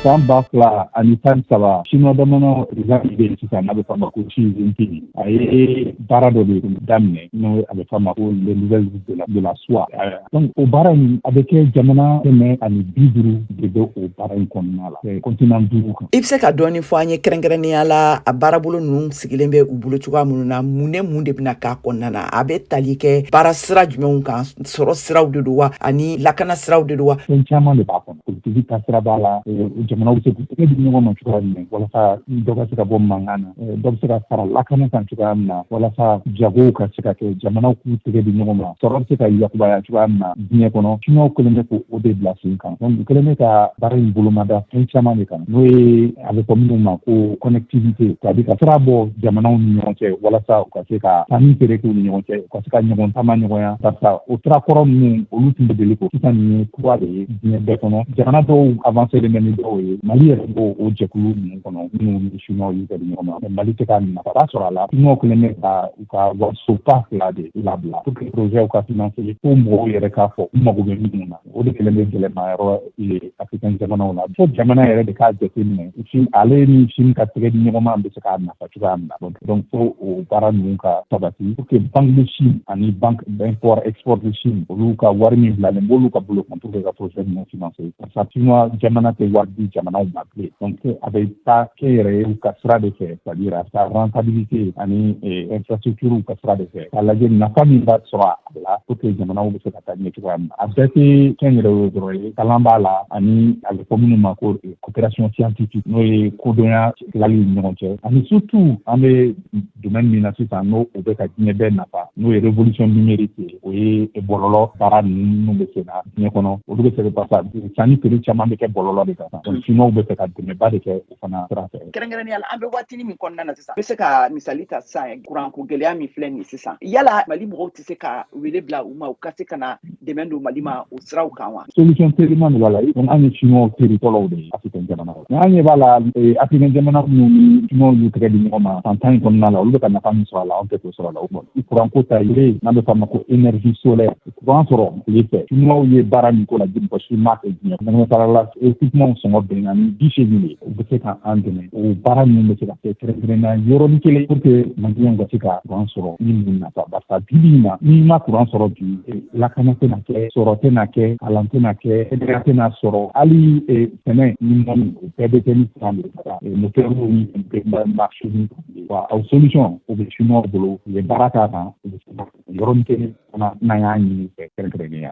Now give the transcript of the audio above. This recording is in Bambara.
san ba fila ani tan saba siniwa jamana président min bɛ yen sisan n'a bɛ f'a ma ko Xi Jinping a ye baara dɔ de daminɛ n'o a bɛ f'a ma ko les nouvelles routes de la soie donc o baara in a bɛ kɛ jamana kɛmɛ ani bi duuru de bɛ o baara in kɔnɔna la i bɛ se ka dɔɔni fɔ an ye kɛrɛnkɛrɛnnenya la a baarabolo ninnu sigilen bɛ u bolo cogoya minnu na mun ni mun de bɛna k'a kɔnɔna na a bɛ tali kɛ baara sira jumɛnw kan sɔrɔ siraw de don wa ani lakana siraw de don wa fɛn caman de b'a kɔnɔ politigi taasira b'a la jamanaw bɛ se k'u tɛgɛ di ɲɔgɔn ma cogoya min na walasa dɔ ka se ka bɔ mankan na dɔ bɛ se ka fara lakana kan cogoya min na walasa jagow ka se ka kɛ jamanaw k'u tɛgɛ di ɲɔgɔn ma sɔrɔ bɛ se ka yakubaya cogoya min na diɲɛ kɔnɔ siniwaw kɛlen bɛ k'o de bila sen kan donc u kɛlen bɛ ka baara in bolomada fɛn caman de kan n'o ye a bɛ fɔ minnu ma ko connectivité c'est à dire ka sira bɔ jamanaw ni ɲɔgɔn cɛ walasa u ka se ka sanni feere k'u ni ɲɔgɔn cɛ u ka se ka ɲɔgɔn taama nɔgɔya parce que o sira kɔrɔ ninnu olu tun bɛ deli ko sisan nin ye kura de ye diɲɛ bɛɛ kɔnɔ jamana dɔw avancélen bɛ ni dɔw ye mali yɛrɛ b'o o jɛkulu ninnu kɔnɔ minnu ni chinois y'u tɛgɛ di ɲɔgɔn ma mali tɛ ka nafaba sɔrɔ a la chinois kɛlen bɛ ka u ka warisoba fila de labila pour que projetw ka financer ko mɔgɔw yɛrɛ k'a fɔ u mago bɛ minnu na o de kɛlen bɛ gɛlɛmayɔrɔ ye africain jamanaw na fo jamana yɛrɛ de k'a jateminɛ ale ni chine ka tɛgɛ di ɲɔgɔnma bɛ se k'a nafa cogoya min na donc fo o baara ninnu ka sabati pour que banque de chine ani banque d'import export de chine olu ka wari min bilalen b'olu ka bolo kan pour que ka projet ninnu financer parce que chinois jamana tɛ wari di jamanaw ma bilen donc a bɛ taa kɛnyɛrɛyew ka sira de fɛ c'est à dire a bɛ taa rentabilité ani infrastructure ka sira de fɛ k'a lajɛ nafa min bɛ sɔrɔ a la pour que jamanaw bɛ se ka taa ɲɛ cogoya min na a bɛɛ tɛ kɛnyɛrɛye dɔrɔn ye kalan b'a la ani a bɛ fɔ minnu ma ko coopération scientifique n'o ye kodɔnya tilali ni ɲɔgɔn cɛ ani surtout an bɛ domaine min na sisan n'o o bɛ ka diɲɛ bɛɛ nafa n'o ye révolution numérique ye o ye bɔlɔlɔ baara ninnu bɛ sen na diɲɛ kɔnɔ olu bɛ se ka pasa sanni feere caman bɛ kɛ bɔlɔlɔ de kan donc chinois bɛ fɛ ka dɛmɛba de kɛ fana sira fɛ kɛrɛnkɛrɛnnenya la an bɛ waatini min kɔnɔna na sisan n bɛ se ka misali ta sisan kuranko gɛlɛya min filɛ nin sisan yala mali mɔgɔw tɛ se ka wele bila u ma u ka se ka na dɛmɛ don mali ma o siraw kan wa solution teliman de b'a la donc an ye chinois teri fɔlɔw de ye africain jamanaw la an ɲɛ b'a la eh, africain jamana minnu ni chinois y'u tɛgɛ di ɲɔgɔn ma san tan in kɔnɔna la olu bɛ ka nafa min sɔrɔ a la an tɛ k'o sɔrɔ a la o kɔnɔ kuranko ta yɛrɛ n'an bɛ f'a ma ko énergie solaire kuran sɔrɔ tile fɛ chinois ye baara min k'o la mɔgɔ si m'a kɛ diɲɛ kɔnɔna la équipementw sɔngɔ binna ni bi seegin de ye u bɛ se ka an dɛmɛ o baara ninnu bɛ se ka kɛ kɛrɛnkɛrɛnnenya yɔrɔnin kelen pour que maliyɛnw ka se ka kuran sɔrɔ ni mun nafa barisa bibi in na n'i ma kuran sɔrɔ bi lakana tɛna kɛ sɔrɔ tɛna kɛ kalan tɛna kɛ kɛnɛya tɛna sɔrɔ hali sɛnɛ ni mɔni o bɛɛ bɛ kɛ ni kuran de ye motɛriw ni mansinw wa a solution o bɛ chinois bolo u ye baara k'a kan u bɛ se ka yɔrɔnin kelen fana n'an y'a ɲini i fɛ kɛrɛnkɛrɛnnenya